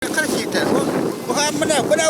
Кырык җитә. Бу менә, менә.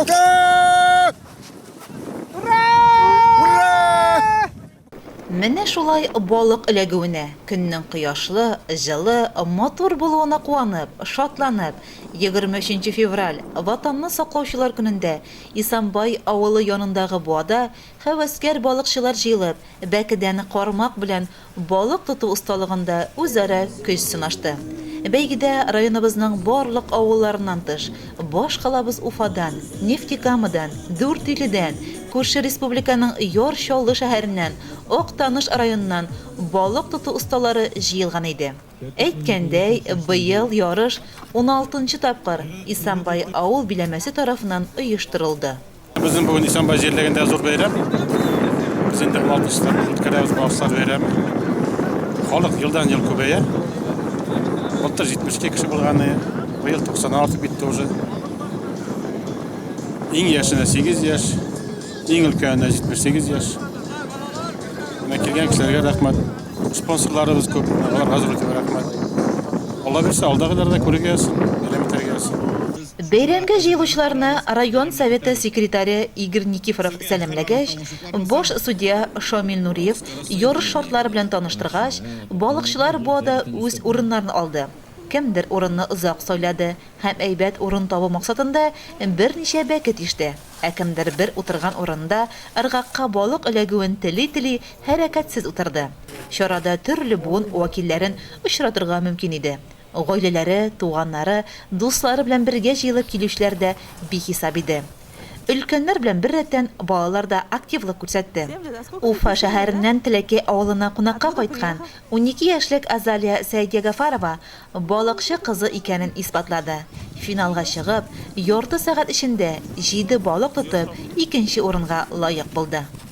Менә шулай балык эләгүенә, көннең кояшлы, җылы, матур булуына куанып, шатланып, 23 нче февраль, Ватанны саклаучылар көнендә Исанбай авылы янындагы буада Һәвәскәр балыкчылар җыелып, бәкедән кармак белән балык тоту осталыгында үзара көч сынашты. Бәйгедә районыбызның барлык авылларыннан тыш, баш калабыз Уфадан, Нефтекамадан, Дүртөйледән, күрше республиканың Яр Чаллы шәһәреннән, Актаныш районыннан балык тоту осталары җыелган иде. Әйткәндәй, быел ярыш уналтынчы тапкыр Исанбай авыл биләмәсе тарафыннан оештырылды. Безнең бүген Исәнбай җирлегендә зур бәйрәм. Без инде 60 тан үткәрәбез Бавсар бәйрәме. Халык елдан ел күбәя. Былтыр 72 кеше булганы, быел 96 битте уже. Иң яшенә 8 яшь, иң өлкәненә 78 яшь. Менә килгән кешеләргә рәхмәт. Спонсорларыбыз күп, аларга зур итеп рәхмәт. Алла бирсә, алдагыларда күрергә язсын, бәйрәм итәргә язсын. Бәйрәмгә җыелучыларны район Советы секретаре Игорь Никифоров сәламләгәч, баш судья Шамил Нуриев ярыш шартлары белән таныштыргач, балыкчылар буада үз урыннарын алды. Кемдер урынны озак сайлады һәм әйбәт урын табу максатында берничә бәке тиште, ә кемдер бер утырган урынында ыргакка балык эләгүен тели-тели хәрәкәтсез утырды. Чарада төрле буын вәкилләрен очратырга мөмкин иде. Гаиләләре, туганнары, дуслары белән бергә җыелып килүчеләр дә бихисап иде. Өлкәннәр белән беррәттән, балалар да активлык күрсәтте. Уфа шәһәреннән Теләкәй авылына кунакка кайткан унике яшьлек Азалия Сәйдиәгафарова балыкчы кызы икәнен исбатлады, финалга чыгып, ярты сәгать эчендә җиде балык тотып, икенче урынга лаек булды.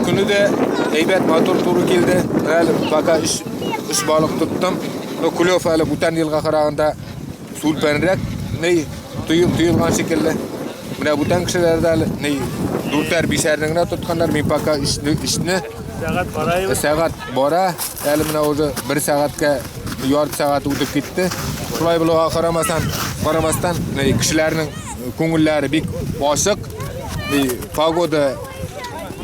Көне дә әйбәт матур туры килде. Әле пока үч үч балык тоттым. Но клев әле бүтән елга караганда сүлпәнрәк, ни тоел тоелган шикелле. Менә бүтән кешеләр дә әле ни дүртәр бишәрне генә тотканнар. Мин пока үчне үчне сәгать бара. Сәгать бара. Әле менә уже бер сәгатькә ярты сәгать үтеп китте. Шулай булуга карамасан, карамастан, кешеләрнең күңелләре бик ачык. Погода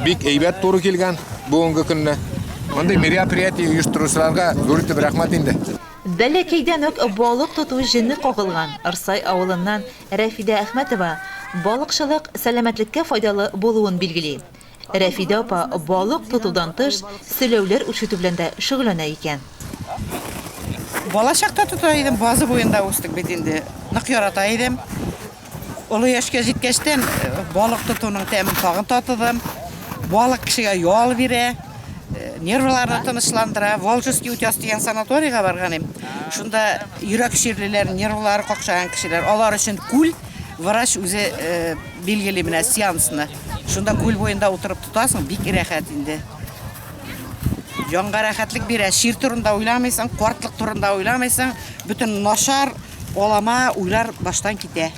Бик әйбәт туры килгән бүгенге көнне. Мондый мероприятие оештыручыларга зур итеп рәхмәт инде. Бәләкәйдән үк балык тоту җене кагылган Ырсай авылыннан Рәфидә Әхмәтова балыкчылык сәламәтлеккә файдалы булуын билгели. Рәфидә апа балык тотудан тыш, селәүләр үрчетү белән дә шөгыльләнә икән. Балачакта тота идем, базы буенда үстек бит инде. Нык ярата идем. Олы яшькә җиткәчтән э, балык тотуның тәмен тагын татыдым. Балык кешегә ял бирә, э, нервларны тынычландыра. Волжский утяс дигән санаторийга барган идем. Шунда йөрәк чирлеләр, нервлары какшаган кешеләр, алар өчен күл врач үзе э, билгели менә сеансны. Шунда күл буенда утырып тотасың, бик рәхәт инде. Җанга рәхәтлек бирә. Шир турында уйламыйсың, картлык турында уйламыйсың. Бөтен начар Алама уйлар баштан китә.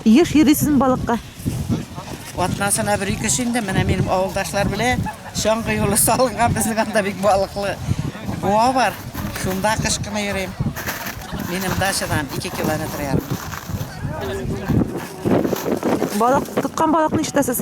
Еш йөрисезме балыкка? Атнасына бер ике инде менә минем авылдашлар белән чаңгы юлы салынган безнең анда бик балыклы буа бар. Шунда кыш кына йөрим. Минем дачадан 2 километр ярым. Балык тоткан балыкны ишетәсез.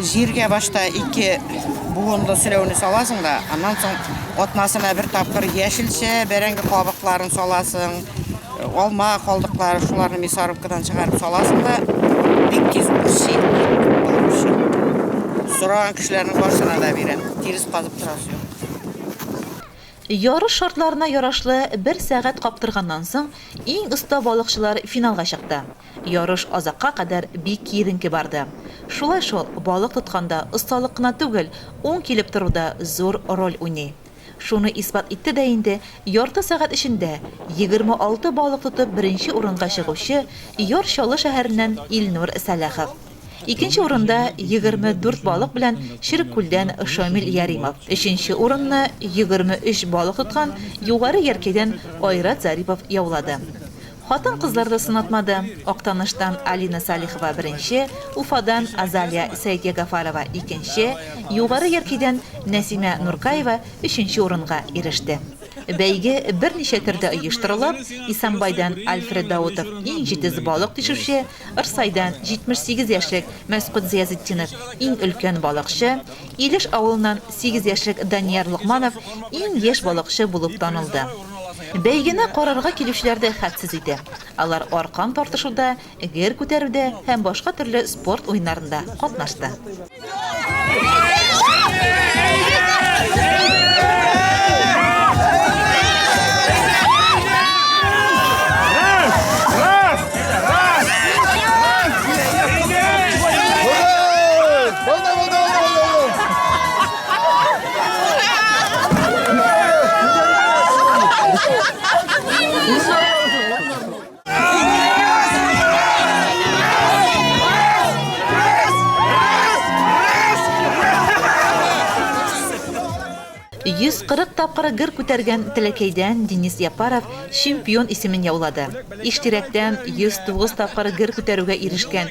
Җиргә башта ике буынлы сөләүне саласың да, аннан соң атнасына бер тапкыр яшелчә, бәрәңге кабыкларын саласың, алма калдыклары, шуларны мясорубкадан чыгарып саласың да, бик тиз үрси. Сораган кешеләрнең барсына да бирәм. Тирес казып торасы юк. Ярыш шартларына ярашлы бер сәгать каптырганнан соң, иң оста балыкчылар финалга чыкты. Ярыш азакка кадәр бик киеренке барды. Шулай шул, балык тотканда осталык кына түгел, уң килеп тору да зур роль уйный. Шуны исбат итте дә инде, ярты сәгать эчендә 26 балык тотып беренче урынга чыгучы Яр Чаллы шәһәреннән Илнур Сәлахов. Икенче урында 24 балык белән Череккүлдән Шамил Яримов, өченче урынны 23 балык тоткан Югары Яркәйдән Айрат Зарипов яулады. Хатын-кызлар да сынатмады. Актаныштан Алина Салихова беренче, Уфадан Азалия Сәетьягафарова икенче, Югары Яркидән Нәсимә Нуркаева өченче урынга иреште. Бәйге берничә төрдә оештырылып, Исәнбайдан Альфред Даутов иң җитез балык тишүче, Ырсайдан 78 яшьлек Мәсгуть Зыязетдинов иң өлкән балыкчы, Илеш авылыннан сигез яшьлек Данияр Локманов иң яшь балыкчы булып танылды. Бәйгене карарга килүчеләр дә хәтсез иде. Алар аркан тартышуда, гер күтәрүдә һәм башка төрле спорт уеннарында катнашты. 140 тапкыр гер күтәргән Теләкәйдән Денис Япаров чемпион исемен яулады. Иштирәктән 109 тапкыр гер күтәрүгә ирешкән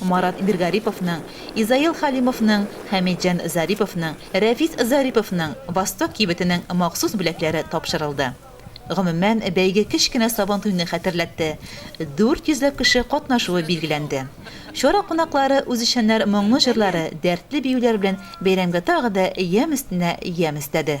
Марат Биргариповның, Изаил Халимовның, Хәмитҗан Зариповның, Рәфис Зариповның Восток кибетенең махсус бүләкләре тапшырылды. Гомумән, бәйге кечкенә Сабантуйны хәтерләтте, дүрт йөзләп кеше катнашуы билгеләнде. Чара кунаклары үзешчәннәр моңлы җырлары, дәртле биюләр белән бәйрәмгә тагы да ямь өстенә ямь өстәде.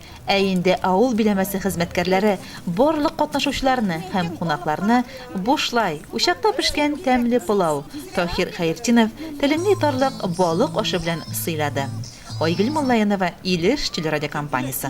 Ә инде авыл биләмәсе хезмәткәрләре барлык катнашучыларны һәм кунакларны бушлай учакта пешкән тәмле пылау, Таһир Хәертдинов телеңне йотарлык балык ашы белән сыйлады. Айгөл Муллаенова, Илеш телерадиокомпаниясе.